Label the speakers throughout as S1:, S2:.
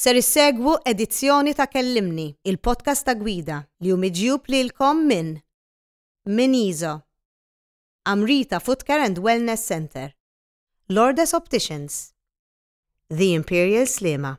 S1: Ser issegwu edizzjoni ta' Kellimni, il-podcast ta' gwida li hu miġjub lilkom minn Min Iso, Amrita Footcare and Wellness Centre, Lourdes Opticians, The Imperial Sliema.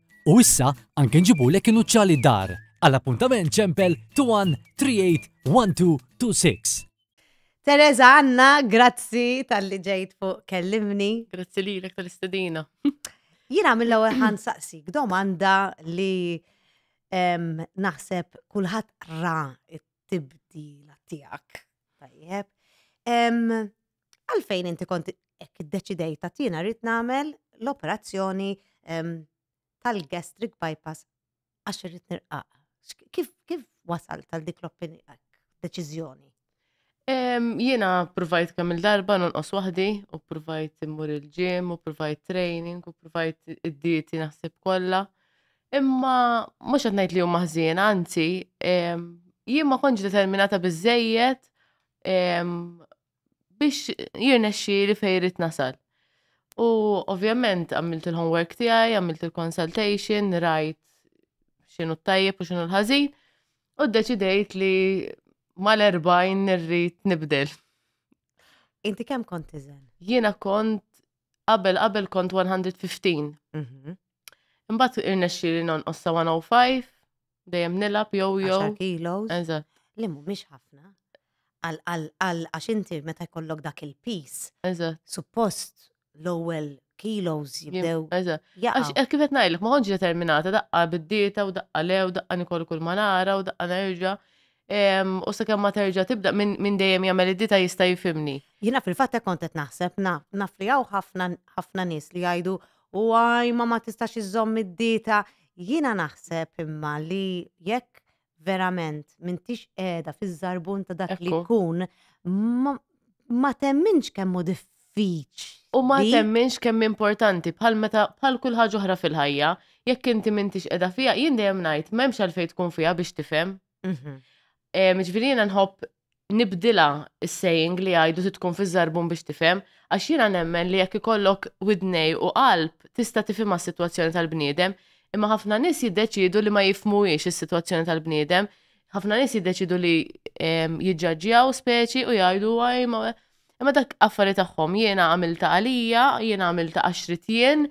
S2: U issa anke nġibulek inuċċali dar. Għal appuntament ċempel 21381226. Teresa
S1: Anna, grazzi tal-li ġejt fuq kellimni. Grazzi lilek
S3: tal-istedina. Jiena
S1: mill-ewwel ħan saqsik domanda li em, naħseb kulħadd ra t-tibdila tiegħek. Tajjeb. Em, għalfejn inti kont hekk iddeċidejt ta' jiena rrid nagħmel l-operazzjoni ehm, tal-gastric bypass għax irrid nirqaq. Kif kif wasal tal dik l-opinjoni deċiżjoni? Ehm,
S3: jiena provajt kemm il-darba nonqos waħdi u provajt immur il-ġim u provajt training u provajt id-dieti naħseb kollha. Imma mhux qed ngħid li huma ħżien, anzi, ehm, jien ma kontx determinata biżejjed biex jirnexxi li fejrit nasal. U ovvjament għamilt il-homework tiegħi, għamilt il-consultation, rajt x'inhu t-tajjeb u x'inhu l-ħażin, u ddeċidejt li mal-40 nirrid nibdel.
S1: Inti kemm kont iżen? Jiena kont
S3: qabel qabel kont 115. Mhm. Imbagħad irnexxi li nonqos sa 105 Dejjem nilab jew jew. 10 kilos.
S1: Eżatt. Li mhumiex
S3: ħafna.
S1: Għal għax inti meta jkollok dak il-pis. Eżatt. Suppost l-ewwel kilos jibdew. Eżatt. Għax eh,
S3: kif qed ngħidlek ma kontx determinata daqqa bid-dieta u daqqa lew daqqa nikol kull ma nara u daqqa nerġa' u sakemm ma terġa' tibda minn dejjem jagħmel id-dita jista' jifimni. Jiena fil-fatt kont
S1: qed naħseb naf li hawn ħafna ħafna nies li jgħidu u għajma ma tistax iżżomm id-dieta, jiena naħseb imma li jekk verament m'intix qiegħda fiż-żarbun ta' dak li Ekku. jkun, ma- ma temminx kemm hu diffiċli. U ma Li? temminx
S3: kemm importanti bħal meta bħal kull ħaġa oħra fil-ħajja, jekk inti m'intix qiegħda fiha, jien dejjem ngħid m'hemmx għalfejn tkun fiha biex tifhem. Mhm. Em, Ġifieri jiena nħobb nibdilha is-saying li jgħidu titkun fiż-żarbun biex tifhem, għax jiena nemmen li jekk ikollok widnej u qalb tista' tifhimha s-sitwazzjoni tal-bniedem, imma ħafna nies jiddeċiedu li ma jifhmuhiex is-sitwazzjoni tal-bniedem, ħafna nies jiddeċiedu li jiġġaġġjaw speċi u jgħidu Imma dak affari tagħhom jiena għamilta għalija, jiena għamilta għax trid jien,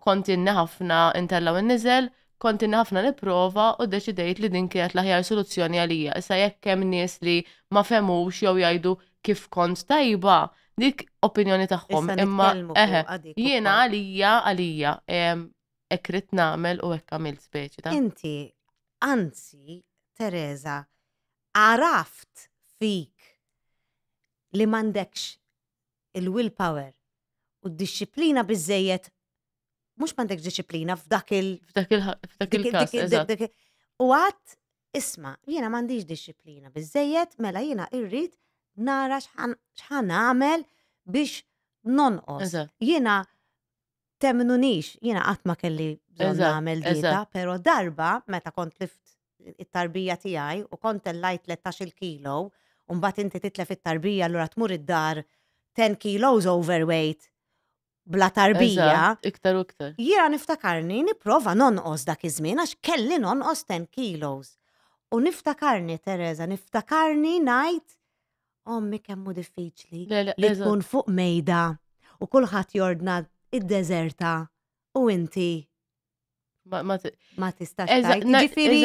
S3: kont inni ħafna intella' u niżel, kont inni ħafna nipprova u ddeċidejt li din kienet l-aħjar soluzzjoni għalija. Issa jekk hemm nies li ma fehmux jew jgħidu kif kont tajba, dik opinjoni tagħhom. Imma eħe, jiena għalija għalija, hekk ridt nagħmel u hekk għamilt speċi ta'. Inti,
S1: anzi, Teresa, għaraft fik li m'għandekx il-will power u d-dixxiplina biżżejjed mhux m'għandekx dixxiplina f'dak il- F'dak il- f'dak dik- il-każ,
S3: dik- eżatt. dik- dik- U għad,
S1: isma, jiena m'għandix dixxiplina biżżejjed, mela jiena irrid nara x'ħan x'ħan nagħmel biex nonqos. Eżatt. Jiena temnunix, jiena qatt ma kelli bżonn Eżatt, nagħmel dieta, eżatt. però darba meta kont lift it-tarbija tiegħi u kont tellajt tlettax-il kilo u mbagħad inti titlef it-tarbija allura tmur id-dar 10 kilos overweight bla tarbija. Eżatt, iktar u iktar.
S3: Jiena niftakarni
S1: nipprova nonqos dak iż-żmien għax kelli nonqos 10 kilos. U niftakarni, Teresa, niftakarni ngħid ommi kemm hu diffiċli Le, le, li eżatt. tkun fuq mejda u kulħadd jordna id-deżerta u inti Ma tistax tajt. Ġifiri,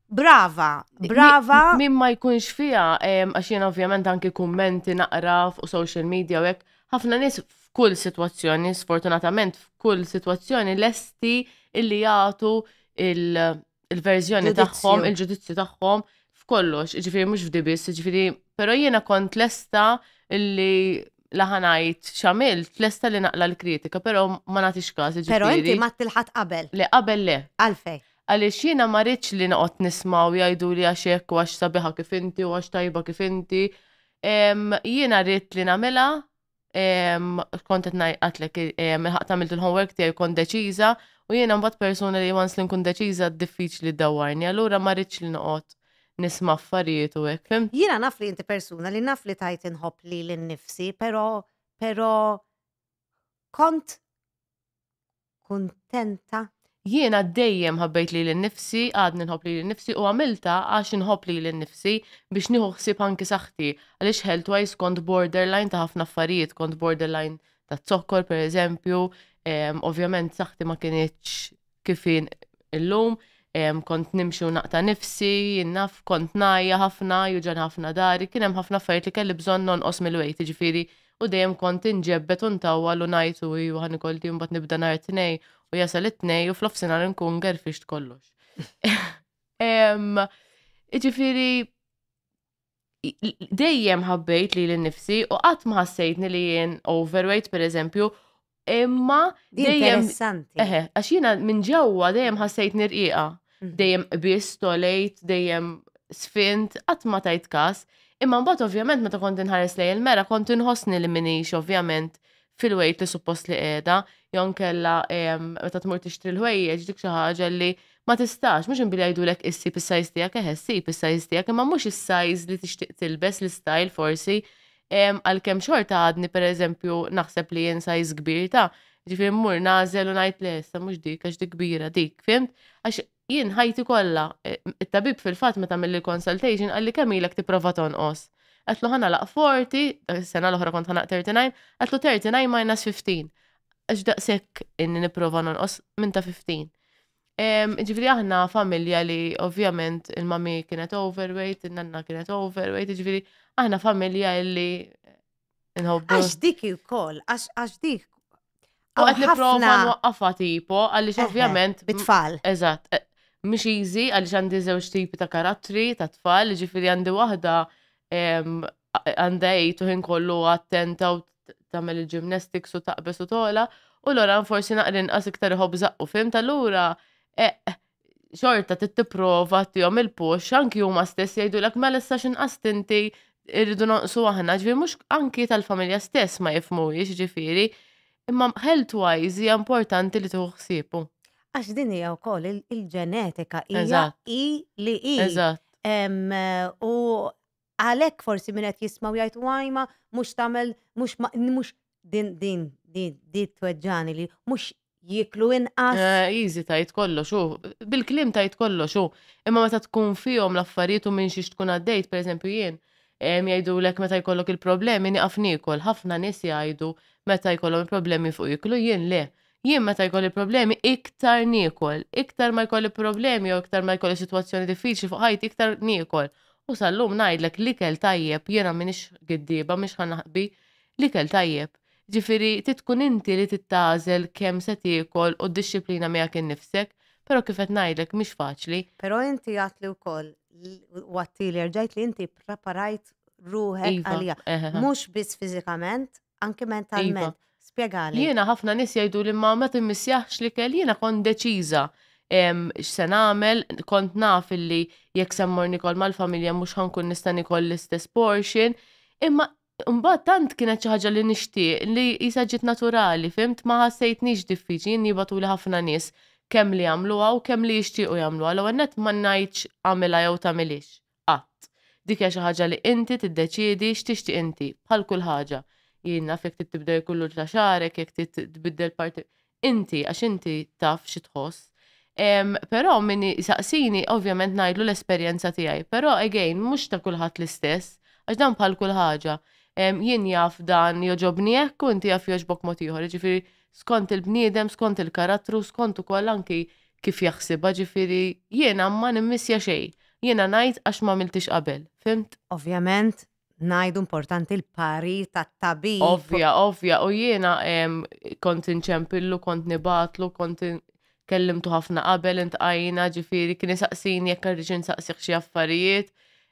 S1: brava, brava.
S3: Min ma jkunx fija, għax jena ovvjament anki kummenti naqra fuq social media u hekk, ħafna nis f'kull situazzjoni, sfortunatament f'kull situazzjoni lesti illi jagħtu il- il-verżjoni tagħhom, il-ġudizzju tagħhom f'kollox, ġifiri mhux f'dibis, ġifiri, però jiena kont lesta illi laħanajt xamil, lesta li naqla l-kritika, però
S1: ma
S3: nagħtix każ. Però inti ma
S1: tilħat
S3: qabel. Le
S1: qabel
S3: le. Għalfej. Għaliex jiena ma rridx li noqgħod nismaw jgħidu li għax hekk u għax sabiħa kif inti u għax tajba kif inti. Jiena rrid li nagħmilha kont qed ngħidlek ħaq tagħmilt il-homework tiegħi kont deċiża u jiena mbagħad persuna li once li nkun deċiża diffiċli dawwarni, allura ma rridx li noqgħod nisma' affarijiet u hekk, fim? Jiena naf li inti persuna
S1: li naf li tajt inħobb lili nnifsi, però però kont kuntenta. Jiena dejjem
S3: ħabbejt lili nnifsi, għadni nħobb lili nnifsi u għamiltha għax inħobb lili nnifsi biex nieħu ħsieb anki saħħti għaliex healthwise kont borderline ta' ħafna affarijiet, kont borderline taz-zokkor pereżempju, ovvjament saħħti ma kinitx kif illum, kont nimxi u naqta' nifsi, naf kont najja ħafna, juġan ħafna dari, kien hemm ħafna affarijiet li kelli bżonn nonqos mill-wejt, jiġifieri U dejjem kont inġebbed u ntawwal u ngħid u iju ħa nikolti mbagħad nibda nhar it-tnej u jasal it-tnej u fl-ofsinhar nkun gerfixt kollox. Iġifieri dejjem ħabbejt li l-nifsi u qatt ma ħassejtni li jien overweight per eżempju Imma dejjem. Interessanti. Eħe, għax jiena minn ġewwa dejjem ħassejt nirqiqa. Mhm. Dejjem qbis, tolejt, dejjem sfint, qatt ma tajt kas. Imma mbagħad ovvjament meta kont inħares lej il-mera kont inħossni li minix ovvjament fil-wejt li suppost li qiegħda, jon kella em, meta tmur tixtri l-ħwejjeġ dik xi ħaġa li ma tistax, mhux inbili jgħidulek issi bis-sajż tiegħek, eħe ssib is-sajż tiegħek, imma mhux is-sajż li tixtieq tilbes l-istyle forsi. Għalkemm xorta għadni pereżempju naħseb li hija size kbir ta' ġifieri mmur nagħżel u ngħid le issa mhux dik għax dik kbira dik, fimt? Għax jien ħajti kollha, it-tabib fil-fatt meta għamilli l-consultation qalli kemm ilek tipprova tonqos? Għedtlu ħa nagħlaq 40, is-sena l-oħra kont ħa nagħlaq 39, għedtlu 39 minus 15. Għax daqshekk inni nipprova nonqos minn ta' 15. Ġifiri aħna familja li ovvjament il-mami kienet overweight, il-nanna kienet overweight, ġifiri aħna familja li nħobbu. Għax dik
S1: il-koll, għax dik. U għed
S3: niprofa nwaqqafa tipo, għalix ovvjament. Bitfall. Eżat,
S1: eh,
S3: mux easy, għalix għandi zewġ tipi ta' karattri, ta' tfal, ġifiri għandi wahda għandha għid u ħin kollu attenta u tagħmel il-gymnastics u taqbes u tola, u Loran forsi naqra inqas iktar iħobb zaqqu fim tal-lura e, xorta tittiprova tihom il-push anki huma stess jgħidulek mela issa x'inqas tinti irridu nonqsu aħna, ġifieri mhux anki tal-familja stess ma jifhmuhiex ġifieri, imma health wise hija importanti li tieħu ħsiebu. Għax din hija
S1: wkoll il-ġenetika hija hi li hi. U Għalhekk forsi min qed jismgħu jgħid wajma mhux tagħmel mhux mhux din din din di tweġġani li mhux jiklu inqas. Eh, easy tajt
S3: kollox u bil-klim tajt kollox u imma meta tkun fihom l-affarijiet u minn xiex tkun għaddejt, pereżempju jien, jgħidu lek meta jkollok il-problemi niqaf nikol, ħafna nies jgħidu meta jkollhom il-problemi fuq jiklu jien le. Jien meta jkolli problemi iktar niekol, iktar ma jkolli problemi jew iktar ma jkolli sitwazzjoni diffiċli fuq ħajti iktar niekol. U sal-lum ngħidlek l-ikel tajjeb jiena m'iniex giddieba mhix ħa naħbi, l-ikel tajjeb. Ġifieri trid tkun inti li trid tagħżel kemm se tiekol u d-dixxiplina miegħek innifsek, però kif qed ngħidlek mhix faċli. Però inti għadtli
S1: wkoll u għadtieli erġajt li inti ppreparajt ruħek għaliha. Mhux biss fiżikament, Anki Iva. mentalment. Spjegali. Jiena ħafna nies jgħidu
S3: li ma ma timmissjaħx l-ikel, jiena kont deċiża em, x'se nagħmel, kont naf illi jekk se mmur nikol mal-familja mhux ħankun nista' nikol l-istess portion, imma mbagħad tant kienet xi ħaġa li nixtieq li jisa ġiet naturali, fimt ma ħassejtnix diffiċli, jien jibatuli ħafna nies kemm li jagħmluha u kemm li jixtiequ jagħmluha. L-ewwel nett ma ngħidx għamilha jew tagħmilhiex, Qatt. Dik hija xi ħaġa li inti tiddeċiedi x'tixtieq inti, bħal kull ħaġa. Jien naf jekk trid tibdel il-kullur ta' xagħrek, jekk trid tbiddel parti. Inti, għax inti taf xi tħoss. Però min jsaqsini, ovvjament ngħidlu l-esperjenza tiegħi. Però again, mhux ta' kulħadd l-istess, għax dan bħal kull ħaġa. Jien jaf dan jogħġobni hekk u inti jaf jogħġbok mod ieħor. Jiġifieri skont il-bniedem, skont il-karattru, skont ukoll anki kif jaħsibha ġifieri jiena ma nimmissja xejn, jiena ngħid għax m'għamiltiex qabel, fhimt? Ovvjament
S1: ngħidu importanti l-parir tat-tabib. Ovvja, ovvja, u
S3: jiena kont inċempillu, kont nibatlu, kont kellimtu ħafna qabel intqajna ġifieri kien isaqsini jekk rridx insaqsih xi affarijiet.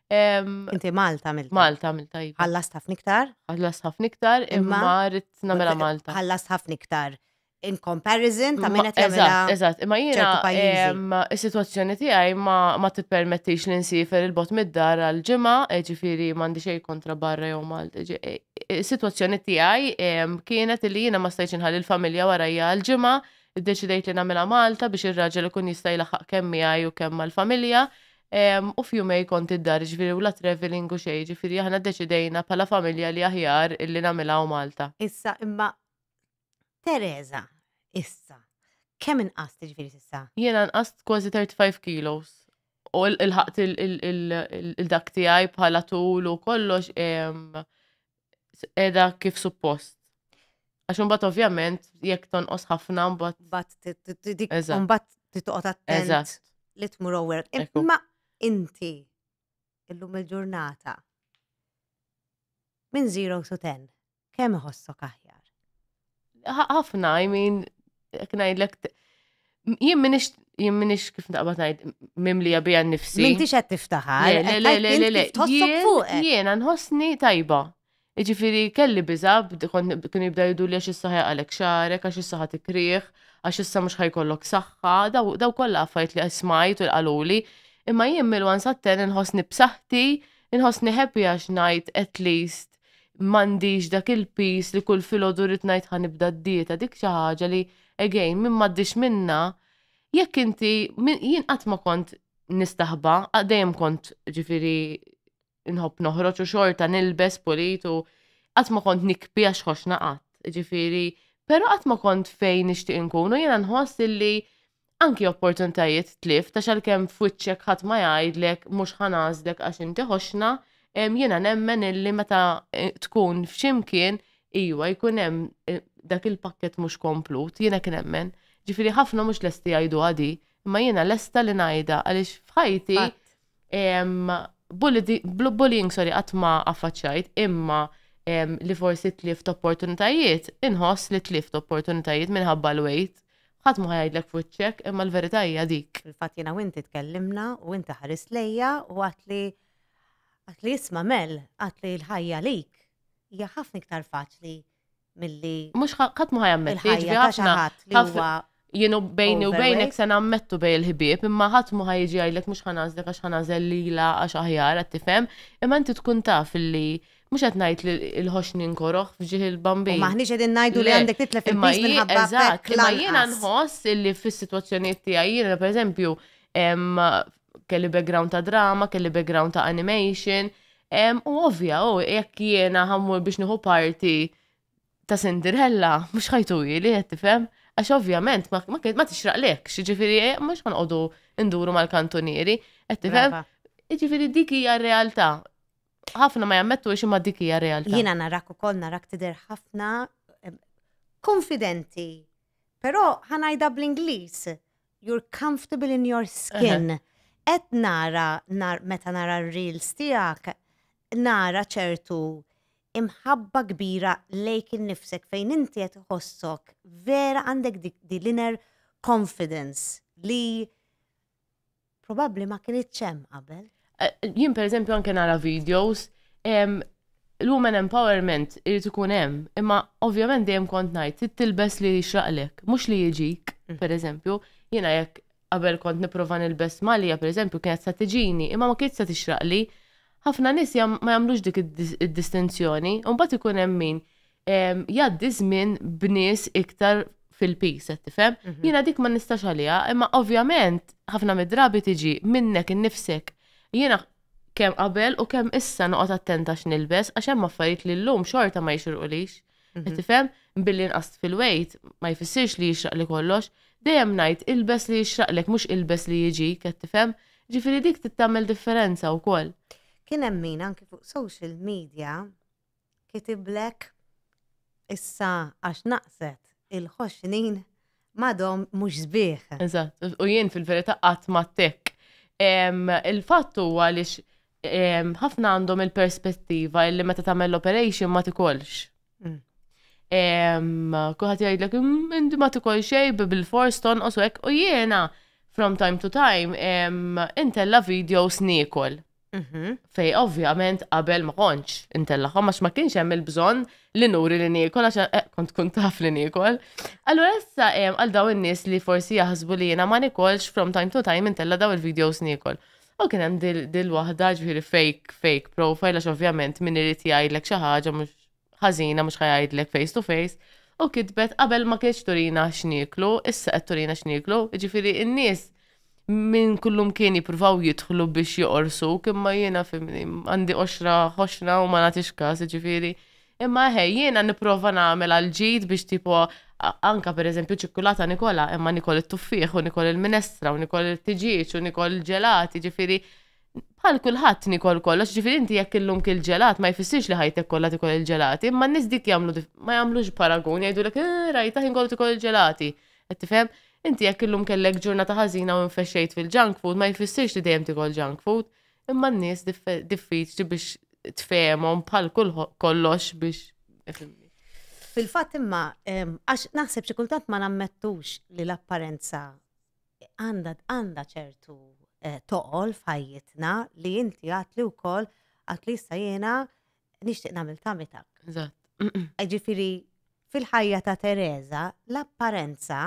S1: Inti Malta mill Malta mill tajba. Iva. Ħallas
S3: ħafna iktar? Ħallas
S1: ħafna
S3: iktar, imma
S1: rrid
S3: nagħmilha Malta. Ħallas ħafna
S1: iktar.
S3: in
S1: comparison ta' min qed jagħmilha. Eżatt, imma jiena
S3: is-sitwazzjoni tiegħi ma tippermettix li nsifer il-bot mid-dar għal ġimgħa, e ġifieri m'għandi xejn kontra barra jew Malta. E, e, is-sitwazzjoni tiegħi kienet li jiena ma stajtx inħalli l-familja warajja għal ġimgħa, iddeċidejt li nagħmilha Malta biex ir-raġel ikun jista' jlaħħaq kemm miegħi u kemm mal-familja. U f'jumej kont id-dar ġifieri u la traveling u xejn, ġifieri aħna ddeċidejna bħala familja li aħjar illi nagħmilha Malta. Issa imma
S1: Teresa, issa, kemm inqast ġifieri s'issa? Jiena nqast kważi
S3: 35 kilos. U il-ħaqt il-dak tiegħi bħala tul u kollox edha kif suppost. Għax imbagħad ovvjament jekk tonqos ħafna mbagħad.
S1: Mbagħad titqgħod attent li tmur over. Imma inti illum il-ġurnata minn 0 to 10 kemm iħossok aħjar?
S3: Ħafna, I mean, ngħidlek jien minix jien minix kif naqbad ngħid mimlija bija nnifsi. M'intix qed tiftaħar.
S1: Le, le, le, le, le. Jien nħossni
S3: tajba. Iġifiri kelli biża' kien jibda jiddu li għax is-saħħa għalek xarek, għax is-saħħa tikrih, għax issa mhux ħajkollok saħħa, daw kollha affajt li smajt u l-qaluli. Imma jien mill-wan satten nħossni b'saħħti, nħossni happy għax ngħid at least m'għandix dak il-piż li kull filgħodu rrid ngħid ħa nibda d-dieta, dik xi ħaġa li again min m'għaddiex minnha, jekk inti jien qatt ma kont nistaħba, dejjem kont ġifieri nħobb noħroġ u xorta nilbes pulit u qatt ma kont nikbi għax ħoxna qatt, ġifieri, però qatt ma kont fejn nixtieq inkun u jiena nħoss illi anki opportunitajiet tlift għax għalkemm f'wiċċek ħadd ma jgħidlek mhux ħa nagħżlek għax inti ħoxna, jiena nemmen illi meta tkun f'xi mkien iwa jkun hemm dak il-pakkett mhux komplut, jien hekk nemmen. Ġifieri ħafna mhux lesti jgħiduha di, imma jiena lesta li ngħidha għaliex f'ħajti Bullying, sorry, qatt ma affaċċjajt, imma li forsi tlift opportunitajiet, inħoss li tlift opportunitajiet minħabba l-wejt. Ħadd ma ħajdlek fuċċek, imma l-verità hija dik. Fil-fatt jiena u inti
S1: tkellimna u inti ħares lejja u għatli għatli isma' mel, għatli l-ħajja lik. Hija ħafna iktar faċli milli Mhux ħa- qatt ma
S3: ħajammetti, il-ħajja jiġifieri ta' xi ħafna- ħadd li ħafna- huwa Jienu bejni u Overweight. bejnek se nammettu bej il-ħbieb, imma ħadd ma ħajġi jgħidlek mhux ħanażlek għax ħanażel lilha għax aħjar qed tifhem, imma inti tkun taf illi mhux qed ngħid li l-ħoxni nkoroh f'ġieħ u il-bambin. maħniex qegħdin ngħidu li Le,
S1: għandek titlef imma il-piż jien- minħabba eżatt, bekk imma jiena lanqas.
S3: nħoss illi fis-sitwazzjonijiet tiegħi jiena pereżempju em, kelli background ta' drama, kelli background ta' animation, u ovvja, u jekk jiena ħammur biex nieħu parti ta' Cinderella, mhux ħajtu li qed tifhem, għax ovvjament ma tixraqlek, ġifieri eh, mhux ħanqogħdu nduru mal-kantunieri, qed tifhem? Ġifieri dik hija r-realtà. Ħafna ma jammettu xi ma dik hija realtà. Jiena narak ukoll narak
S1: tidher ħafna konfidenti. Però ħanajda bl-Ingliż You're comfortable in your skin. Qed nara meta nara r-reels tiegħek nara ċertu imħabba kbira lejk innifsek fejn inti qed iħossok vera għandek dik di l-inner confidence li probabbli ma kienitx hemm qabel. Jien pereżempju
S3: anke nara videos l-women empowerment irid ikun hemm, imma ovvjament dejjem kont ngħid trid tilbes li jixraqlek, mhux li jiġik, mm. pereżempju, jiena jekk qabel kont nipprova nilbes malja pereżempju kienet sa tiġini, imma ma kienx sa tixraqli. Ħafna nies ma jagħmlux dik id-distinzjoni, u mbagħad ikun hemm min jgħaddi żmien b'nies iktar fil-pis, qed tifhem? Mhm. Jiena dik ma nistax għaliha, imma ovvjament ħafna mid-drabi tiġi minnek innifsek. Jiena kemm qabel u kemm issa noqgħod attenta x'nilbes għax hemm affarijiet li llum xorta ma jixirqulix. Mhm. Qed tifhem? Billi nqast fil-wejt ma jfissirx li jixraq li kollox. Dejjem ngħid ilbes li jixraqlek mhux ilbes li jiġi, qed tifhem? Ġifieri dik tittamel differenza wkoll. Kien hemm min
S1: anki fuq social media Kitibllek issa għax naqset il-ħoxnin m'għadhom mhux sbieħ. Eżatt, u jien
S3: fil-verità qatt ma ttekk. Il-fatt huwa għaliex ħafna għandhom il-perspettiva li meta tagħmel l-operation ma tikolx. Kuħat jgħidlek, indi ma tikol xej bil-fors tonqos u hekk, u jiena from time to time intella videos niekol. Mhm. Fej ovvjament qabel ma kontx intellaħom għax ma kienx hemm il-bżonn li nuri li niekol għax eh, kont kun taf li niekol. Allura issa hemm għal daw in-nies li forsi jaħsbu li jiena ma nikolx from time to time intella daw il-videos niekol. U kien hemm dil-waħda ġifieri fake fake profile għax ovvjament min irid jgħidlek xi ħaġa mhux ħażina mhux ħajgħidlek face to face, u kitbet qabel ma kienx turina x'nieklu, issa qed turina x'nieklu, ġifieri n-nies minn kullum kien jippruvaw jidħlu biex joqorsu, kimma jiena fimni, għandi oxra ħoxna u ma nagħtix każ, ġifieri. Imma eħe, jiena nipprova nagħmel għal ġid biex tipo anka per eżempju ċikkulata Nikola, imma Nikol it-tuffieħ u Nikol il-minestra u Nikol il-tiġieġ u Nikol il-ġelati, ġifieri Bħal kulħadd nikol kollox, ġifieri inti jekk illum kil ġelat ma jfissirx li ħajtek kollha tikol il-ġelati, imma n-nies dik jagħmlu ma jagħmlux paragun jgħidulek eh, rajta ħin kollu tikol il-ġelati. Qed tifhem? Inti jekk illum kellek ġurnata ħażina u infexxejt fil-junk food ma jfissirx li dejjem tikol junk food, imma n-nies diffiċli biex tfehmhom bħal kollox biex Fil-fatt
S1: imma, għax naħseb xi kultant ma nammettux li l-apparenza għandha għandha ċertu eh, toqol f'ħajjitna li inti għat li wkoll għat li issa jiena nixtieq nagħmel tamitak. Eżatt.
S3: Ġifieri
S1: fil-ħajja ta' Teresa l-apparenza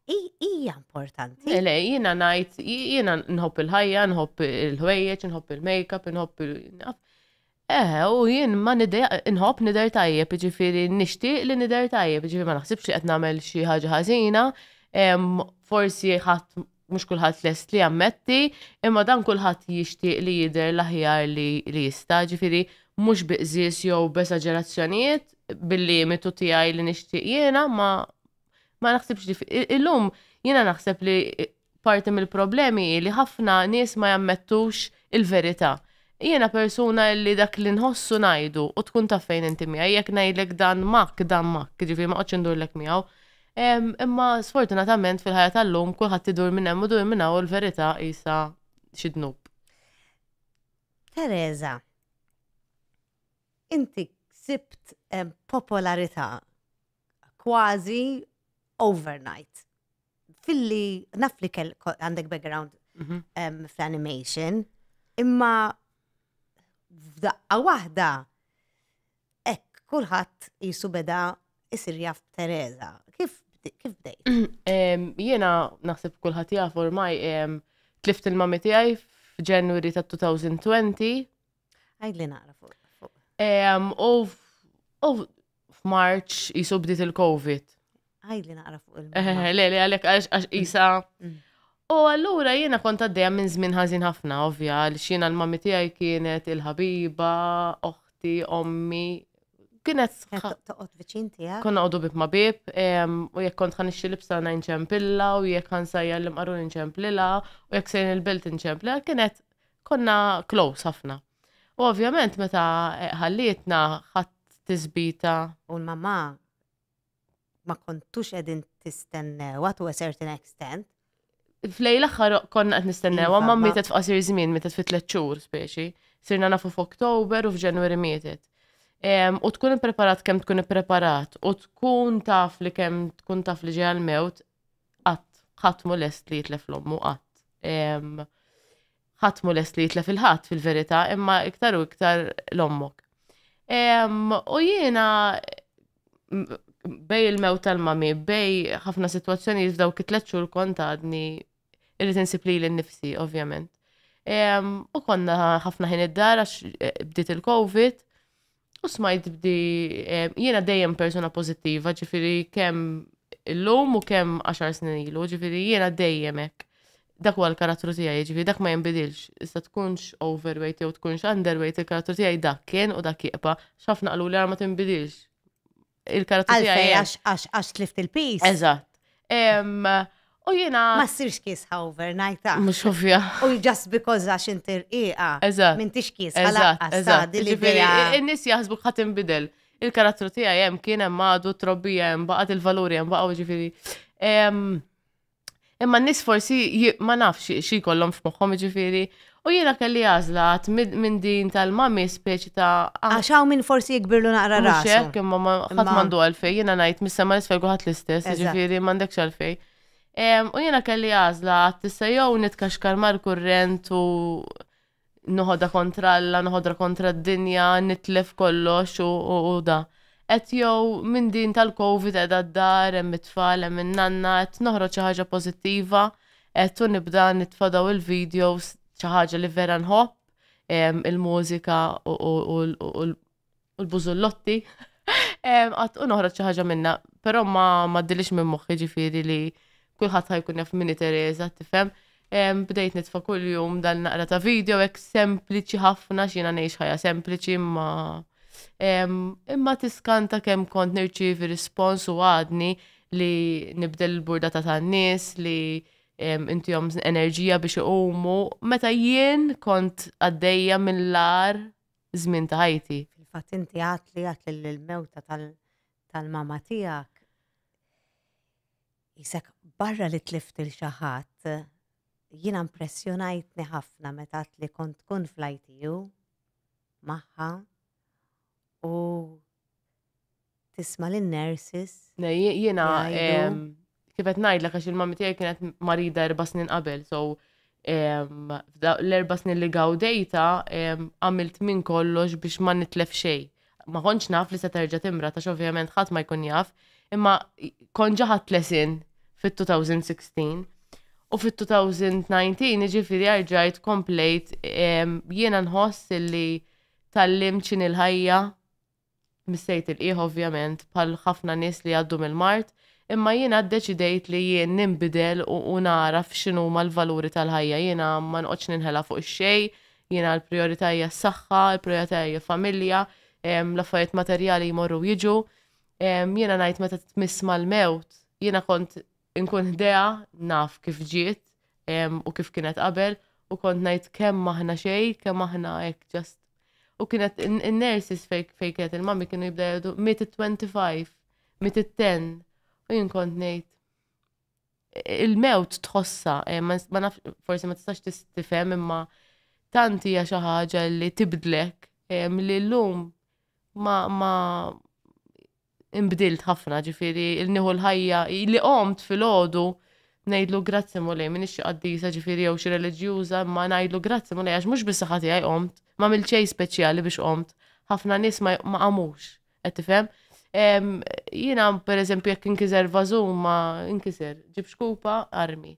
S1: hi- hija importanti. Le, jiena ngħid,
S3: jiena nħobb il-ħajja, nħobb il-ħwejjeġ, nħobb il-makeup, nħobb il- naf. Eħe, u jien ma nidher, inħobb nidher tajjeb, jiġifieri nixtieq li nidher tajjeb, jiġifieri ma naħsibx li qed nagħmel xi ħaġa ħażina, forsi ħadd mhux kulħadd lest li jammetti, imma dan kulħadd jixtieq li jidher l-aħjar li li jista', jiġifieri mhux bi qżież jew b'esaġerazzjonijiet, bil-limitu tiegħi li nixtieq jiena, ma ma naħsibx li illum jiena naħseb li Parti mill-problemi hi li ħafna nies ma jammettux il-verità. Jiena persuna li dak li nħossu ngħidu u tkun taf fejn inti miegħi jekk ngħidlek dan mak, dan mak, ġifieri ma qgħodx indurlek miegħu. Imma sfortunatament fil-ħajja tal-lum kulħadd idur minn hemm u dur minn hawn il-verità qisha xi dnub. Teresa,
S1: inti sibt popolarità kważi overnight. filli naf li kell għandek background mhm. ehm, fl-animation, imma f'daqqa waħda ek kulħadd jisu beda isir jaf Teresa. Kif kif bdejt? Ehm, jiena
S3: naħseb kulħadd jaf ormaj ehm, tlift il-mami tiegħi f'Ġenwari ta' 2020 Għajdli
S1: naqra fuq. U
S3: f'Marċ jisu bdiet il-Covid. Għajdli naqra
S1: fuq il-Covid. Eh, eh, eh, le, le,
S3: għalek għax jisa. Mm. U allura jiena kont għaddejja minn żmien ħażin ħafna, ovvja, għal xina l-mammi tiegħi kienet il-ħabiba, oħti, ommi, kienet. Toqgħod viċin
S1: tiegħek. Konna għodu bib ma bib,
S3: u jekk kont ħan ixxi libsa ngħin ċempilla, u jekk ħan sajja l-imqaru nċemplila, u jekk sejn il-belt nċemplila, kienet Konna close ħafna. U ovvjament meta ħallietna ħadd tisbita. U l-mamma
S1: ma kontux edin tistennewa to a certain extent. Flej
S3: l-axħar konna qed nistennew, iva, ma mietet f'qasir żmien, mietet fi tliet xhur speċi. Sirna nafu f'Oktober u f'Ġenwari mietet. U tkun ippreparat kemm tkun ippreparat u tkun taf li kemm tkun taf li ġej għal-mewt, Qatt, ħadd mhu lest li jitlef l-ommu, qatt. Ħadd mhu lest li jitlef il-ħadd fil-verità, imma iktar u iktar l-ommok. U jiena bej il-mew tal-mami, bej ħafna situazzjoni f'daw kitlet xhur kont għadni irrid insib li l-nifsi, ovvjament. U konna ħafna ħin id-dar għax eh, bdiet il-Covid, U smajt bdi, eh, jiena dejjem persuna pozittiva, ġifiri kem l-lum u kem 10 snin ilu, ġifiri jiena dejjem ek. Dak huwa l-karattru tiegħi, ġifiri dak ma jinbidilx. Issa tkunx overweight jew tkunx underweight, il-karattru tiegħi dak kien u dak jibqa'. X'ħafna qalu li ma tinbidilx. il-karozza tiegħi. Għalfej, għax, għax, għax tlift
S1: il-pis. Eżatt.
S3: Em, U jiena. Ma ssirx kiesħa
S1: overnight. ah. Mhux ovvja.
S3: U just because
S1: għax inti rqiqa. Eżatt. Minn tix
S3: kiesħa Eżatt,
S1: laqqas eżatt. tgħaddi li Ġifieri, bija. in-nies
S3: jaħsbu ħadd inbidel. Il-karattru tiegħi hemm kien hemm għadu, trobbija hemm baqgħet il-valuri hemm baqgħu ġifieri. Em, Imma n-nies forsi ma nafx xi jkollhom f'moħħhom jiġifieri u jiena kelli għażla għad minn din tal-mami speċi ta' ah, Għax hawn min forsi
S1: jikbirlu naqra mhux rasu. hekk imma ma- ħadd Imma-
S3: m'għandu għalfejn jiena ngħid mis-sema l-isfel kulħadd l-istess, Eżatt. jiġifieri m'għandekx għalfejn. Em, U jiena kelli għażla għad issa jew nitkaxkar mal-kurrent u noħodha kontra Alla, noħodha kontra d-dinja, nitlef kollox u, u, u da. Qed jew minn din tal-Covid qiegħda d-dar, hemm it-tfal, hemm in-nanna, qed noħroġ xi ħaġa pożittiva, qed u nibda nitfa' daw il-videos xi ħaġa li vera nħobb, em, il-mużika u, u, u, u, u u l-bużullotti. Għat u noħroġ xi ħaġa minna, però ma ma dilix minn moħħi ġifieri li kulħadd ħajkun jaf minni Teresa, tifhem. Bdejt nitfa' kuljum dan naqra ta' video hekk sempliċi ħafna x'jiena ngħix ħajja sempliċi imma imma tiskanta kemm kont nirċievi rispons u għadni li nibdel il-burda ta' tan-nies li inti jom enerġija biex iqumu. Meta jien kont għaddejja mill-lar żmien ta' ħajti. Fil-fatt inti għad
S1: li għad lill-mewta tal-mama tiegħek jisek barra li tlift il xaħat jina impressjonajtni ħafna meta li kont tkun fl-ITU maħħa u tisma' lin-nurses. Jiena
S3: kif qed ngħidlek għax il-mammi tiegħi kienet marida erba' snin qabel, so l-erba' snin li gawdejta għamilt minn kollox biex ma nitlef xejn. Ma kontx naf li se terġa' timra ta' ovvjament ħadd ma jkun jaf, imma kont ġaħat lesin fit-2016 u fit-2019 jiġifieri arġajt komplejt jiena nħoss li tallimt x'inhi l-ħajja Missejt il-qiegħ ovvjament bħal ħafna nies li jgħaddu mill-mard, imma jiena ddeċidejt li jien ninbidel u nagħraf x'inhuma l-valuri tal-ħajja. Jiena ma noqgħodx ninħela fuq ix-xejn, jiena l-prijorità hija s-saħħa, il-prijorità hija familja, l-affarijiet materjali jmorru jiġu. Jiena ngħid meta tmiss mal-mewt, jiena kont Inkun ħdejha, naf kif ġiet u kif kienet qabel u kont ngħid kemm aħna xejn, kemm aħna hekk ġast. U kienet in-nurses fejn kienet il-mami kienu jibda jgħidu miet it-25, miet it-10 u jien kont ngħid il-mewt tħossa, eh, ma naf, forsi ma tistax tistifem imma tanti hija xi ħaġa li tibdlek eh, li llum ma ma inbdilt ħafna, ġifieri li nieħu l-ħajja, li qomt filgħodu ngħidlu grazzi Mulej, m'iniex xi qaddisa ġifieri jew xi reliġjuża imma ngħidlu grazzi Mulej għax mhux bis-saħħa tiegħi qomt, m'għamilt xejn speċjali biex qomt. Ħafna nies ma qamux, qed tifhem? Jiena pereżempju jekk inkiser vażun ma inkiser, ġib xkupa armi.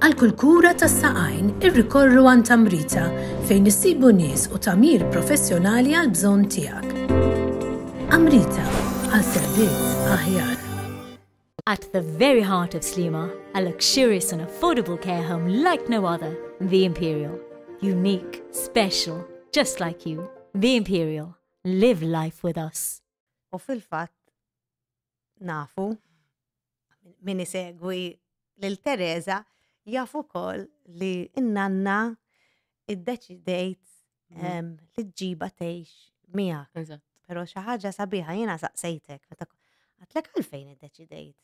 S4: Għal kull kura tas saqajn irrikorru għan tamrita fejn issibu nies u tamir professjonali għal bżonn tiegħek. Amrita għal servizz aħjar. At
S5: the very heart of Slima, a luxurious and affordable care home like no other, The Imperial. Unique, special, just like you. The Imperial. Live life with us. U fil-fatt
S1: nafu min isegwi lil Teresa jafu kol li n-nanna id-deċidejt mhm. li ġiba tgħix miegħek. Però xi ħaġa sabiħa jiena saqsejtek meta għatlek għalfejn id-deċidejt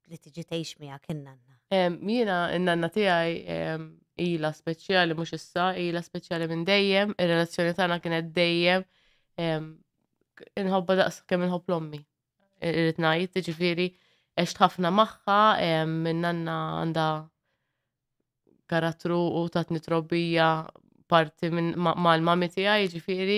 S1: li tiġi tgħix miegħek in-nanna? Jiena
S3: n-nanna tiegħi ila speċjali mhux issa, ila speċjali minn dejjem, ir-relazzjoni tagħna kienet dejjem inħobba daqs kemm inħobb l-ommi. Irrid ngħid, jiġifieri għext ħafna magħha, minn nanna għandha karattru u tatni trobbija parti minn mal-mami tiegħi, jiġifieri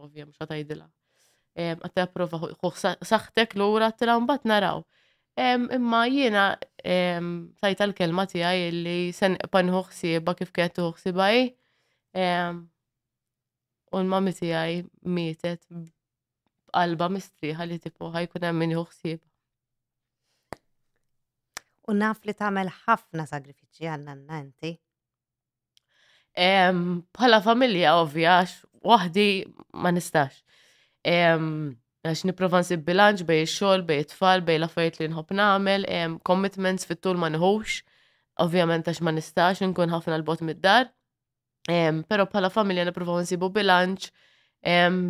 S3: ovvja mhux għatajdilha. Għatta prova saħtek l-ura t-tila mbat naraw. Imma jiena tajta l-kelma tijaj li sen pan uħsieba kif kienet uħsieba i. U l-mami tijaj mietet b'qalba mistriħa li tipu ħajkun hemm min uħsieba.
S1: U naf li tagħmel ħafna sagrifiċċji għandna nanti.
S3: Bħala familja ovvja, waħdi ma nistax. Għax niprofa nsib bilanċ bej xogħol, bej tfal, bej l-affarijiet li nħobb nagħmel, commitments fit-tul ma nħux, ovvjament għax ma nistax nkun ħafna l-bot mid-dar. Pero bħala familja niprofa nsibu bilanċ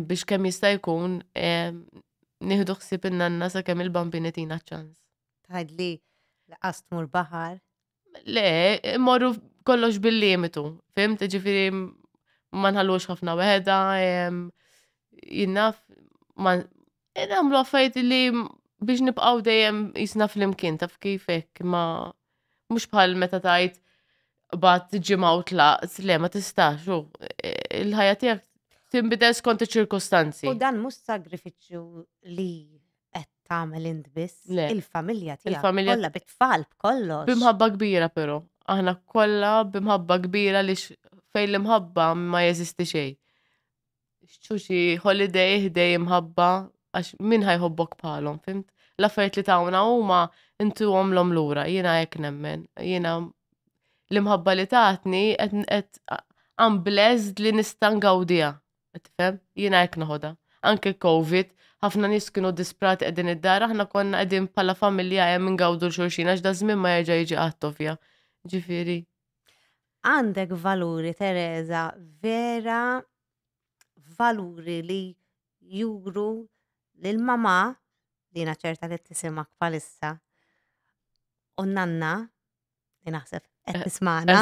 S3: biex kemm jista' jkun nieħdu ħsieb in-nanna sa kemm il-bambini tina ċans. Tgħidli
S1: li qas tmur baħar Le,
S3: morru kollox bil-limitu, fim, ġifiri ma nħallux ħafna weħda, jinnaf, ma nagħmlu affajt li biex nibqaw dejjem jisna fl-imkien taf kifek, ma mux bħal meta tajt bat ġimaw tlaqs, le ma tistax, u il-ħajja tijak timbidel skont ċirkustanzi. U dan mux
S1: sagrifiċu li qed tagħmel int biss, Le. il-familja tiegħek Il-familja- kollha bit-tfal b'kollox. Bimħabba kbira però,
S3: aħna kollha bimħabba kbira li x- fejn l-imħabba ma jeżisti xejn. Xċuċi holiday ħdej imħabba għax min ħajħobbok bħalhom, fimt? L-affarijiet li tawna huma intu għomlhom lura, jiena hekk nemmen. Jiena l-imħabba li tatni qed qed I'm blessed li nista' ngawdiha. Tifhem? Jiena hekk noħodha. Anke l-Covid, ħafna nies kienu disprati qegħdin id-dar, aħna konna qegħdin bħala familja hemm ingawdu l-xulxin għax da żmien ma jerġa' jiġi qatt ovvja. Ġifieri.
S1: Għandek valuri Teresa vera valuri li juru lil mama li jiena ċerta li tisimak palissa u nanna li naħseb qed eh, tismana.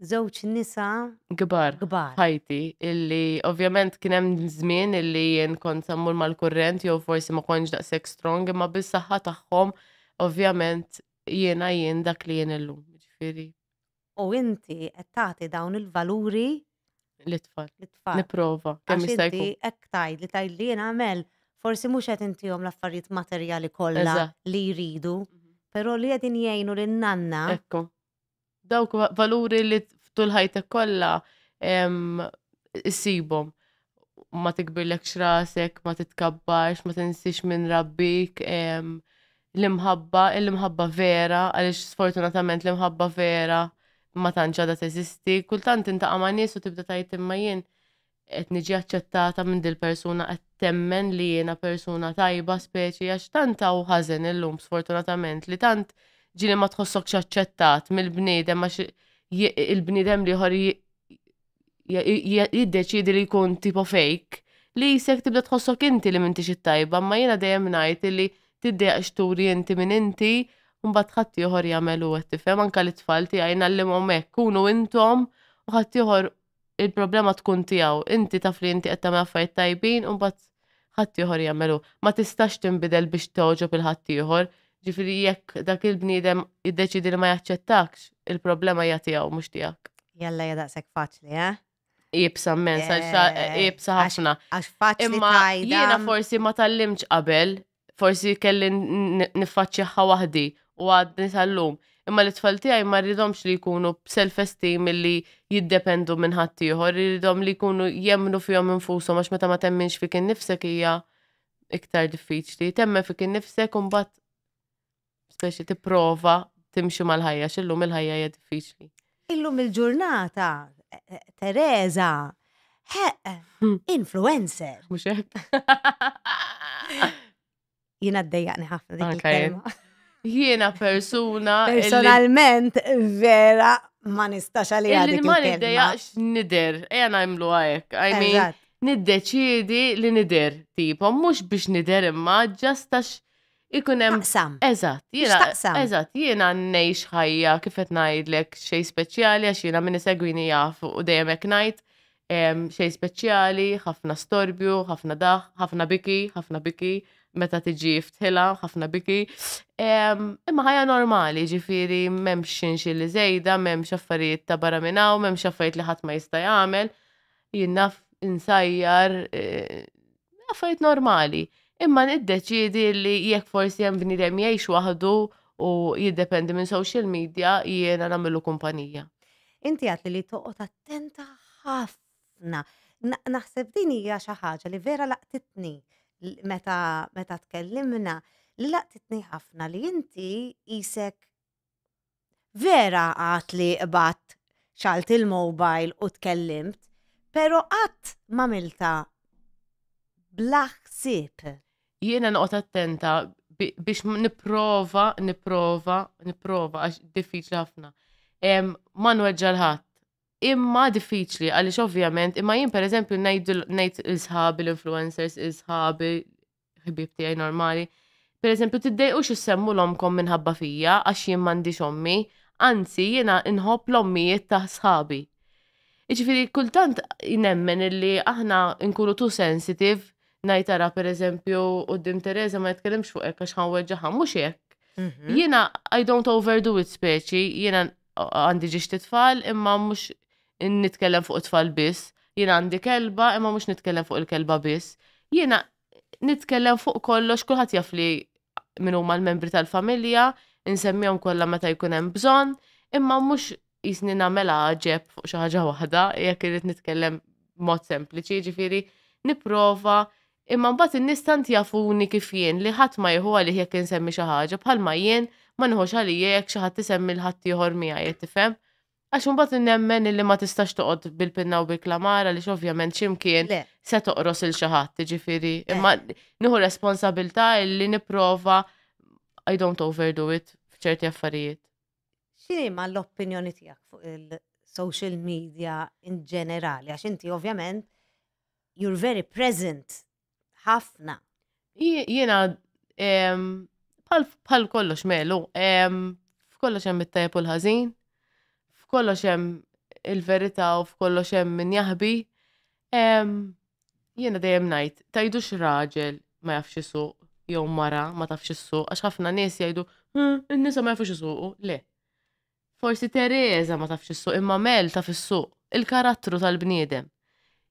S1: Żewġ nisa gbar. Gbar.
S3: Ħajti, illi ovvjament kien hemm żmien illi jien kont sammur mal-kurrent jew forsi ma kontx daqshekk strong imma bis-saħħa tagħhom ovvjament jiena jien dak li jien illum. Ġifieri u
S1: inti qed tagħti dawn il-valuri L-itfal.
S3: lit-tfal. Nipprova. Kemm Għax jista' inti jkun. hekk tgħid li tgħid
S1: li jien għamel, forsi mhux qed intihom l-affarijiet materjali kollha Eżatt. li jridu, però li qegħdin jgħinu lin-nanna Ekku.
S3: Dawk va- valuri li t- f'tul ħajtek kollha em, issibhom. Ma tikbirlekx rasek, ma titkabbarx, ma tinsiex minn rabbik, em, l-imħabba, l-imħabba vera, għaliex sfortunatament l-imħabba vera ma tantx għadha teżisti, kultant intaqa' ma' nies u tibda tgħid imma jien qed niġi aċċettata minn dil-persuna qed temmen li jiena persuna tajba speċi għax tant hawn ħażen illum sfortunatament li tant ġieli ma tħossokx aċċettat mill-bniedem għax il-bniedem l-ieħor jiddeċidi li jkun tipo fake li jisek tibda tħossok inti li mintix it-tajba, ma jiena dejjem ngħid li tiddejaq xturi inti minn inti mbagħad ħadd ieħor jagħmel u qed tifhem anke lit-tfal tiegħi ngħallimhom hekk kunu intom u ħadd ieħor il-problema tkun tiegħu. Inti taf li inti qed tagħmel affarijiet tajbin u mbagħad ħaddieħor jagħmel hu. Ma tistax tinbidel biex togħġob il-ħaddieħor. Ġifieri jekk dak il-bniedem jiddeċiedi li ma jaċċettakx, il-problema hija tiegħu mhux tiegħek. Jalla hija daqshekk
S1: faċli, eh? Iebsa
S3: mmens, għax iebsa ħafna. Għax faċli. Imma
S1: jiena
S3: forsi ma tallimx qabel forsi kelli niffaċċjaha waħdi u għadni tal-lum. Imma li tfal tiegħi ma rridhomx li jkunu b'self-esteem li jiddependu minn ħaddieħor, rridhom li jkunu jemmnu fihom infushom għax meta ma temminx fik innifsek hija iktar diffiċli. Temmen fik innifsek u mbagħad speċi tipprova timxi mal-ħajja, xillum il-ħajja hija diffiċli. Illum
S1: il-ġurnata, eh, eh, Teresa, hmm. influencer. Mux hekk. Jina d-dejjaqni ħafna dik il-kelma. Jiena
S3: persuna. Personalment,
S1: vera, ma nistax għalli għaddi. Ma niddejaqx
S3: nider, eja najmlu għajk. I mean, niddeċidi li nider, tipo, mux biex nider imma, ġastax Ikun hemm. Taqsam. Eżatt, jiena. Taqsam. Eżatt, jiena ngħix ħajja kif qed ngħidlek xejn speċjali għax jiena min isegwini jaf u dejjem hekk ngħid xejn speċjali, ħafna storbju, ħafna daħ, ħafna biki, ħafna biki, meta tiġi ftħila, ħafna biki. Imma ħajja normali, ġifiri, memx xinxi li zejda, memx affarijiet ta' barra minnaw, memx affarijiet li ħadd ma jista' jagħmel. Jinnaf insajjar, e, affarijiet normali. Imma niddeċiedi li jekk forsi hemm bniedem jgħix waħdu u jiddependi minn social
S1: media
S3: jiena
S1: nagħmilu
S3: kumpanija. Inti għat
S1: li
S3: toqgħod
S1: attenta ħafna. Naħseb din hija xi ħaġa li vera laqtitni meta meta tkellimna li laqtitni ħafna li inti isek Vera għad li qbadt, xgħalt il-mobile u tkellimt, pero qatt m'għamiltha bla ħsieb. Jiena noqgħod
S3: attenta biex nipprova, nipprova, nipprova għax diffiċli ħafna. Ma nweġġa' l-ħadd. Imma diffiċli għaliex ovvjament, imma jien pereżempju ngħid il-sħabi l-influencers, il-sħabi ħbieb tiegħi normali. Per eżempju, tiddejqux issemmu l-omkom minħabba fija għax jien m'għandix ommi, anzi jiena nħobb l-ommijiet ta' sħabi. Iġifieri kultant nemmen illi aħna nkunu tu sensitive ngħid ara per eżempju qudiem Teresa ma jitkellimx fuq hekk għax ħanweġġaħa mhux hekk. Mhm. Jiena I don't overdo it speċi, jiena għandi ġiex titfal imma mhux nitkellem fuq it-tfal biss, jiena għandi kelba imma mhux nitkellem fuq il-kelba biss, jiena nitkellem fuq kollox kulħadd jaf li min huma l-membri tal-familja, insemmihom kollha meta jkun hemm bżonn, imma mhux jisni nagħmel għaġeb fuq xi ħaġa waħda jekk irid nitkellem mod sempliċi, ġifieri nipprova imma mbagħad in-nies tant jafuni kif jien li ħadd ma jieħu għalih jekk insemmi xi ħaġa bħalma jien ma nieħux għalija jekk xi ħadd isemmi l-ħadd ieħor miegħi qed tifhem. Għax imbagħad nemmen illi ma tistax toqgħod bil-pinna u bil-klamar għaliex ovvjament xi mkien Le. se toqros il xi ħadd, jiġifieri imma nieħu responsabilità illi nipprova I don't overdo it f'ċerti affarijiet. X'inhi
S1: ma l-opinjoni tiegħek fuq il-social media in ġenerali? Għax inti ovvjament you're very present Ħafna.
S3: Jiena bħal kollox melu, f'kollox hemm it-tajb u l-ħażin, f'kollox hemm il-verità u f'kollox hemm min jaħbi. Jiena dejjem ngħid, tajdux raġel ma jafx isuq jew mara ma tafx isuq, għax ħafna nies jgħidu, hm, in-nisa ma jafux isuqu, le. Forsi Teresa ma tafx is-suq imma Mel taf is-suq, il-karattru tal-bniedem.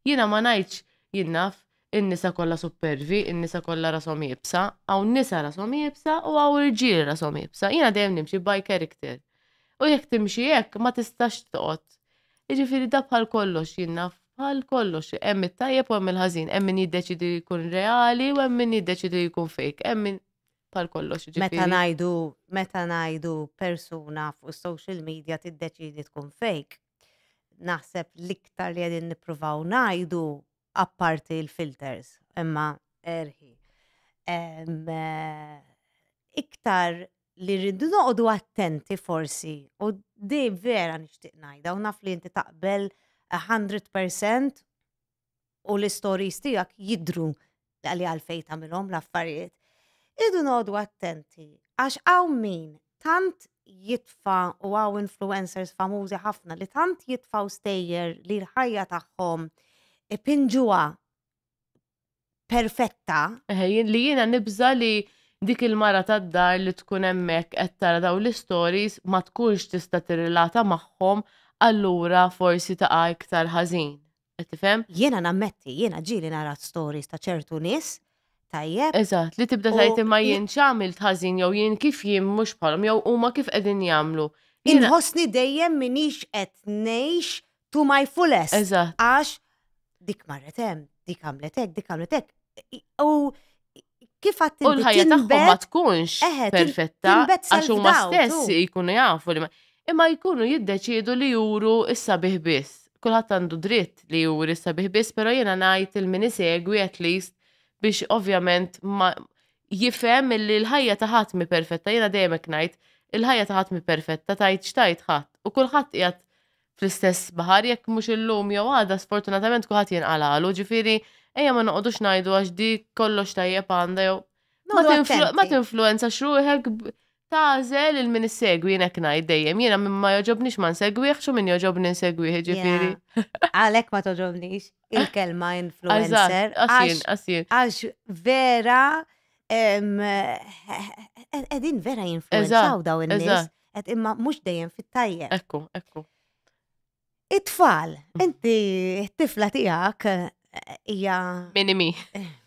S3: Jiena ma ngħidx, jien naf, in-nisa kollha suppervi, in-nisa kollha rashom iebsa, hawn nisa rashom iebsa u hawn irġiel rashom iebsa, jiena dejjem nimxi by character. U jekk timxi hekk ma tistax toqgħod. Jiġifieri da bħal kollox, jien naf, bħal kollox, hemm it-tajjeb u hemm il-ħażin, hemm min jiddeċiedi li jkun reali u hemm min jiddeċiedi li jkun fake, hemm min. tal kollox. Meta ngħidu
S1: meta ngħidu persuna fuq social media tiddeċidi tkun fake, naħseb l-iktar li qegħdin nippruvaw ngħidu apparti l-filters, imma erħi. Eh, iktar li rridu noqogħdu attenti forsi u di vera nixtieq ngħidha u naf li inti taqbel 100% u l-istories tiegħek jidru li għalfejn tagħmilhom l-affarijiet. Idu noqogħdu attenti għax hawn min tant jitfa u għaw influencers famużi ħafna li tant jitfaw stejjer li l-ħajja tagħhom ipinġuha perfetta. Li jiena
S3: nibża li dik il-mara tad-dar li tkun hemmhekk qed tara daw l-istories ma tkunx tista' tirrilata magħhom allura forsi taqa' iktar ħażin. Qed tifhem? Jiena nammetti,
S1: jiena ġieli nara stories ta' ċertu nies tajjeb. Eżatt, li tibda tgħid
S3: imma jien x'għamilt ħażin jew jien kif jien mhux bħalhom jew huma kif qegħdin jagħmlu. Inħossni
S1: dejjem minix qed ngħix to my fullest. Eżatt. Għax dik marret hemm, dik għamlet hekk, dik għamlet hekk. I- U kif għat U l-ħajja tagħhom ma tinbet-
S3: tkunx Eħe, tin- perfetta tinbet għax huma self-doubt, stess u- jkunu jafu li ma- imma jkunu jiddeċiedu li juru issa bih biss. Kulħadd għandu dritt li juri issa bih biss, però jiena ngħid il min isegwi at least biex ovvjament ma jifhem li l-ħajja ta' ħadd mi perfetta. Jiena dejjem hekk ngħid, il-ħajja ta' ħadd mi perfetta tajt x'tajt ħadd u kulħadd qiegħed fl-istess baħar jekk mhux illum jew għada sfortunatament kulħadd jinqalagħlu, ġifieri ejja ma noqogħdux ngħidu għax di kollox tajjeb għandha jew ma tinfluenzax ruħek tażel il-min issegwi jinek ngħid dejjem jiena minn ma joġobnix ma nsegwih xo minn joġobni nsegwih ġifieri. Għalhekk ma
S1: toġobnix il-kelma influencer. Għax vera qegħdin vera jinfluenzaw daw in-nies. Qed imma mhux dejjem fit-tajjeb. Ekku, ekku. It-tfal, inti t-tifla tiegħek eh, hija. Mini mi.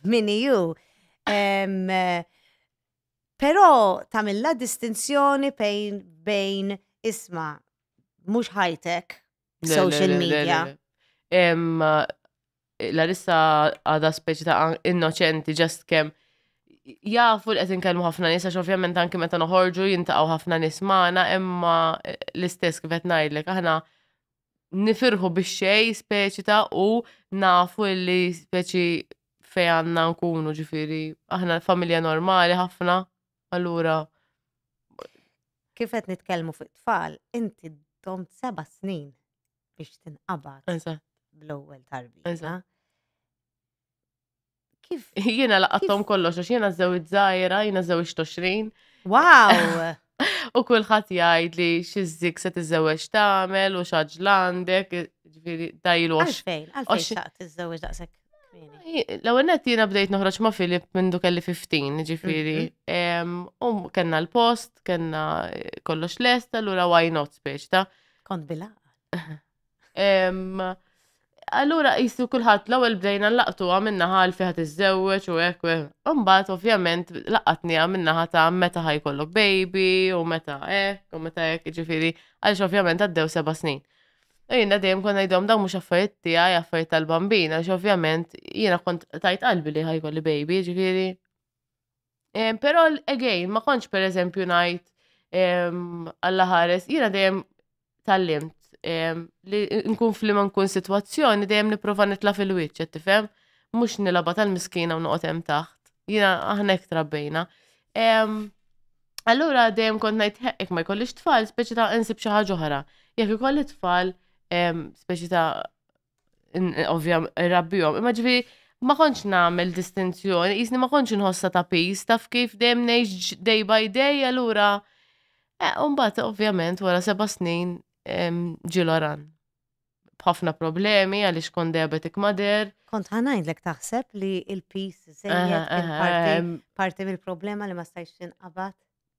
S1: Mini ju. Eh, però tamilla distinzjoni bejn bejn isma' mhux ħajtek social media.
S3: Larissa għada speċi ta' innoċenti ġast kem jafu li qed inkellmu ħafna nies għax ovvjament anki meta noħorġu jintaqgħu ħafna nies magħna imma eh, l-istess kif qed ngħidlek aħna nifirħu biex xej speċi ta' u nafu li speċi fej għandna nkunu ġifieri aħna familja normali ħafna allura
S1: kif qed nitkellmu fuq tfal inti dom seba' snin biex tinqabad bl-ewwel tarbija. Kif? Jiena laqattom
S3: kollox, għax jiena żew iż-żajra, jiena żew ix-20. Wow!
S1: U
S3: kulħadd jgħid li xi żig se tiżewweġ tagħmel u xaġ landek, ġifieri dajlu għax. Għalfejn, għalfejn xaqt
S1: tiżewweġ daqshekk. L-ewwel nett jiena
S3: bdejt noħroġ ma' Filip minn du kelli 15, ġifieri. Mhm. U kellna l-post, kellna kollox lesta, lura why not speċ ta' Kont
S1: bila.
S3: Allura jistu kulħadd l-ewwel bdejna laqtu għamilna ħal fi ħadd iżżewweġ u hekk. Imbagħad ovvjament laqatni għamilna ħata meta ħajkollok baby u meta hekk u meta hekk ġifieri għaliex ovvjament għaddew seba' snin. U jiena dejjem konna ngħidhom dawn mhux affarijiet tiegħi affarijiet tal-bambin għaliex ovvjament jiena kont tajt qalbi li ħajkolli baby ġifieri Pero again, ma konċ per eżempju najt għalla ħares, jina dejjem tal-limt li nkun flima nkun situazzjoni dejjem niprofa nitla fil-wicċ, tifhem? Mux nilaba tal-miskina u noqgħod hemm taħt. Jina aħna ek trabbejna. Allura dejjem kont ngħid hekk ma jkollix tfal, speċi ta' insib xi ħaġa oħra. Jekk ikolli tfal, speċi ta' ovvja rabbijom, imma ġifieri ma kontx nagħmel distinzjoni, jisni ma kontx inħossa ta' pis, taf kif dejjem ngħix day by day, allura. Eh, mbagħad ovvjament wara seba' snin ġiloran. B'ħafna problemi għaliex kont diabetic mader. Kont ħanajdlek
S1: taħseb li il-pis żejjed parti mill-problema li ma stajx tinqabad?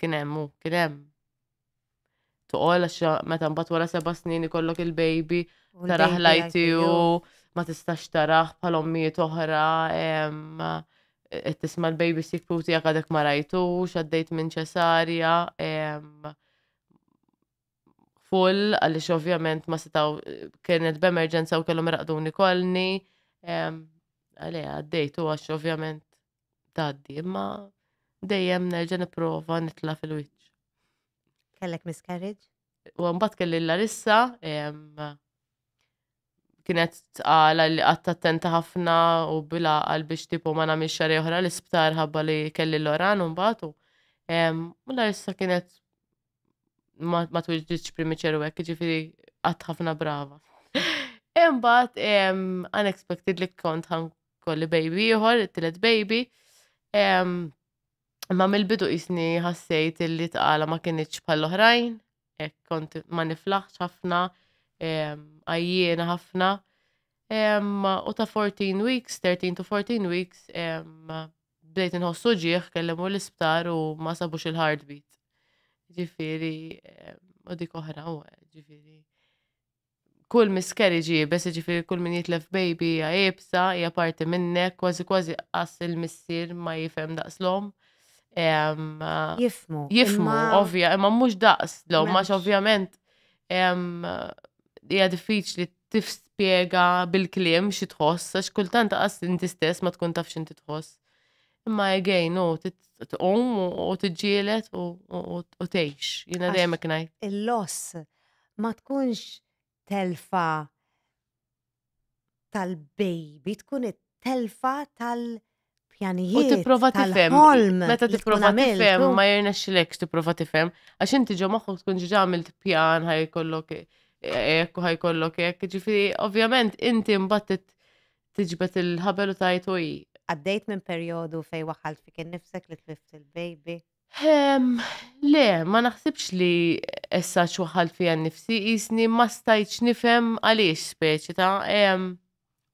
S3: kien hemm u kien hemm. Toqol għax meta mbagħad wara seba' snin ikollok il-baby taraħ lajti u ma tistax taraħ bħal ommijiet oħra qed tisma' l-baby sikku tiegħek għadek ma rajtux għaddejt minn ċesarja full għaliex ovvjament ma setaw kienet b'emerġenza u kellhom raqduni kolni għalija għaddejtu għax ovvjament tgħaddi, imma dejjem nerġa' nipprova nitla' fil-wiċċ. Kellek
S1: miscarriage? U mbagħad kelli
S3: l-Larissa, kienet tqala li qatt attenta ħafna u bila għal biex tipo ma nagħmilx xar oħra l-isptar ħabba li kelli l-oran u mbagħad u l-Larissa kienet ma twiġġitx primiċeru hekk, ġifieri qatt ħafna brava. Imbagħad unexpected li kont kolli baby ieħor, it-tielet baby. Imma mill-bidu jisni ħassejt illi tqala ma kienieċ bħall-oħrajn, kont ma niflaħx ħafna, għajjiena ħafna. U ta' 14 weeks, 13 to 14 weeks, bdejt nħossu ġieħ kellem u l-isptar u ma sabux il-heartbeat. Ġifiri, u dik oħra u ġifiri. kull miscarriage iebes, jiġifieri kull min jitlef baby hija iebsa, hija parti minnek, kważi kważi qas il-missier ma jifhem daqs l-omm. Jifmu. Jifmu, ovvja, imma mhux daqs l-omm, għax ovvjament hija diffiċli tifspjega bil-kliem xi tħoss, għax kultant qas inti stess ma tkun taf x'inti tħoss. Imma again, u tqum u tiġġielet u tgħix. Jiena dejjem ngħid. Il-loss
S1: ma tkunx telfa tal-baby, tkun it-telfa tal- pjanijiet. U
S3: tipprova tifhem. Meta tipprova tifhem ma jirnexxilekx tipprova tifhem għax inti ġo moħħok tkun ġiġa għamilt pjan ħajkollok hekk u ħajkollok hekk. Ġifieri ovvjament inti mbagħad tiġbed il-ħabel u tajt u Għaddejt minn
S1: perjodu fej waħalt fik innifsek li tlift il-baby. Ehm,
S3: le, ma naħsibx li essa ċwaħħalt fija nnifsi qisni ma stajtx nifhem għaliex speċi ta' ehm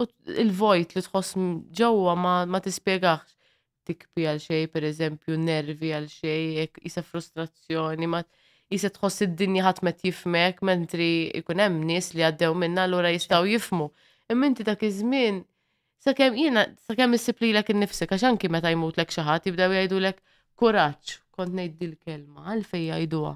S3: u il-vojt li tħoss m- ġewwa ma, ma tispjegax. Tikbi għal xejn, pereżempju, nervi għal xejn, hekk qisha frustrazzjoni, ma qisha tħoss id-dinja ħadd ma qed jifhmek, mentri jkun hemm nies li għaddew minnha allura jistgħu jifhmu. Imma inti dak iż-żmien Sakemm jiena sakemm issib lilek innifsek għax anki meta jmutlek xi ħadd jibdew jgħidulek kuraġġ, kont ngħid dil-kelma għalfejn jgħiduha.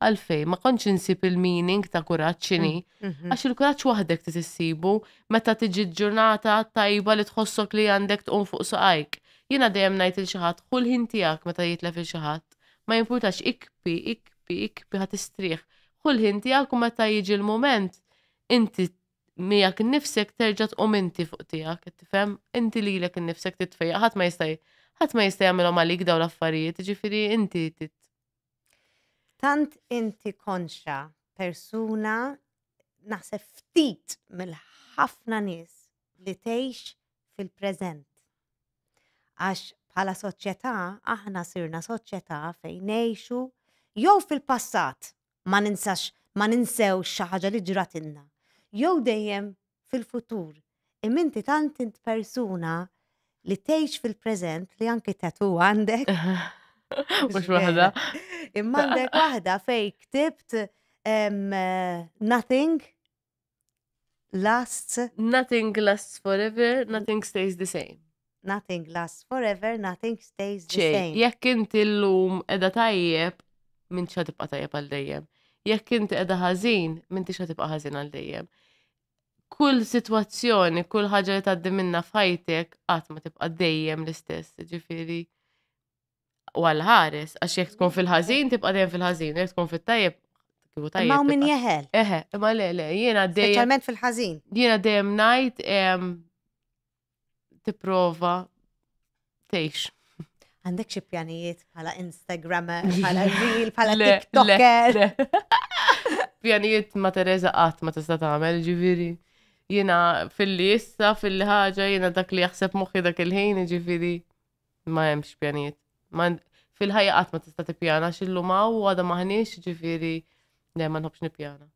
S3: Għalfejn ma kontx insib il-meaning ta' kuraġġ x'inhi. Mhm. Għax il-kuraġġ waħdek trid issibu meta tiġi ġurnata tajba li tħossok li għandek tqum fuq saqajk. Jiena dejjem ngħid il xi ħadd ħu l-ħin tiegħek meta jitlef il xi ħadd. Ma jimpurtax ikpi, ikpi, ikpi ħadd istrieħ. Ħu l-ħin tiegħek u meta jiġi l-mument inti miegħek innifsek terġa' tqum inti fuq tiegħek, qed tifhem? Inti lilek innifsek titfejjaq, ħadd ma jista' ħadd ma jista' jagħmilhom għalik dawn l-affarijiet, ġifieri inti tit.
S1: Tant inti konxa persuna naħseb ftit mill-ħafna nies li tgħix fil-preżent. Għax bħala soċjetà aħna sirna soċjetà fejn ngħixu jew fil-passat ma ninsax, ma ninsewx xi ħaġa li ġratilna, jew dejjem fil-futur, imma inti tant int persuna li tgħix fil-preżent li anki tatu għandek.
S3: Mhux waħda. Imma għandek
S1: waħda fej ktibt nothing lasts. Nothing lasts forever, nothing
S3: stays the same. Nothing lasts
S1: forever, nothing stays the same. Jekk inti l-lum
S3: edha tajjeb, minn xa tibqa tajjeb għal dejjem. Jekk inti edha ħażin, minn xa tibqa ħażin għal dejjem. Kull situazzjoni, kull ħaġa li taddi minna f'ħajtek, qatt ma tibqa dejjem l-istess, ġifiri. u għal-ħares, għax jek tkun fil-ħazin, tibqa dejjem fil-ħazin, jek tkun fil-tajjeb, kiku tajjeb. Ma' min jeħel. Eħe,
S1: ma' le, le,
S3: jena dejjem. Specialment fil-ħazin.
S1: Jena dejjem najt,
S3: tiprova, tejx. Għandek
S1: xie pjanijiet bħala Instagrammer, bħala Reel, bħala TikToker.
S3: Pjanijiet ma' Teresa qatt ma tista' tagħmel, ġifieri jina fil-li issa, fil-li ħaġa, jina dak li jaħseb moħi dak il-ħin, ġifiri. Ma hemmx pjanijiet. Fil-ħajja qatt ma tista' tippjana x'illum hawn u għadha maħniex ġifieri le ma nħobbx nippjana.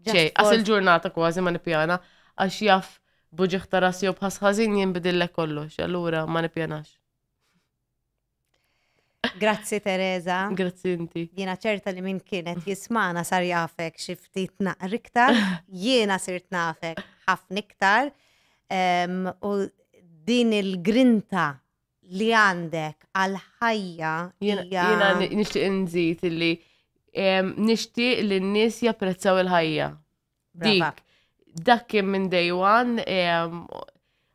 S3: Ġej, għas il-ġurnata kważi ma nippjana għax jaf buġiħ ta' rasi u bħas ħażin jinbidillek kollox, allura ma nippjanax.
S1: Grazzi Teresa. Grazzi inti.
S3: Jiena ċerta li min
S1: kienet jismana sar jafek xi ftit naqr iktar, jiena sirt nafek ħafna iktar. U din il-grinta li għandek għal ħajja jiena
S3: nixtieq nżid illi nixtieq li n-nies japprezzaw il-ħajja. Dik, dak kien minn day one,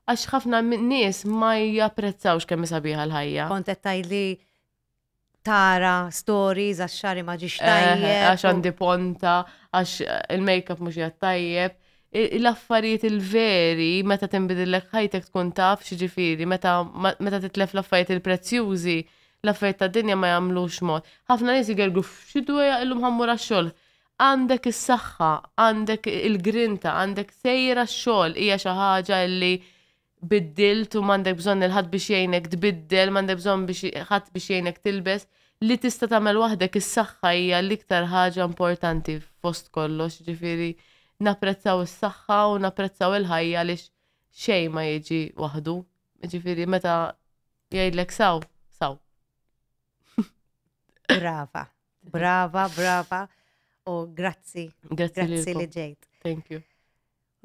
S3: għax ħafna nies ma japprezzawx kemm sabiħa l-ħajja. Kont qed tgħidli
S1: tara stories għax xari ma ġiex eh, tajjeb. Għax għandi ponta,
S3: għax il-makeup mhux jgħat tajjeb. L-affarijiet il-veri, meta tinbidillek ħajtek tkun taf x'ġifieri, meta titlef l-affarijiet il-prezzjużi, l-affarijiet ta' dinja ma jagħmlux mod. Ħafna nies jgergu f'xi dweja illum ħammur għax-xogħol Għandek is-saħħa, għandek il-grinta, għandek sejjer għax-xogħol hija xi ħaġa li biddilt u m'għandek bżonn il ħadd biex jgħinek tbiddel, m'għandek bżonn biex ħadd biex jgħinek tilbes, li tista' tagħmel waħdek is-saħħa hija l-iktar ħaġa importanti fost kollox, ġifieri napprezzaw is-saħħa u napprezzaw il-ħajja għaliex xejn ma jiġi waħdu. Ġifieri meta jgħidlek saw, saw. Brava.
S1: Brava, brava. U grazzi. Grazzi, grazzi li ġejt. Thank you.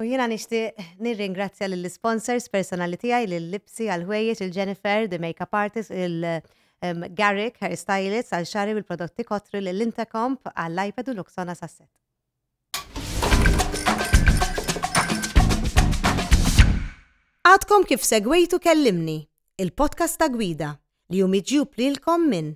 S3: U jina nishti
S1: nirringrazzja l-sponsors personali tijaj, l-Lipsi għal-ħwejjeġ, il-Jennifer, the makeup artist, il-Garrick, hair stylist, għal-xari u l-prodotti kotri l-Intercomp, għall-iPad u l-Oksona Sasset. Għadkom kif segwejtu kellimni, il-podcast ta' gwida li jumiġju plilkom minn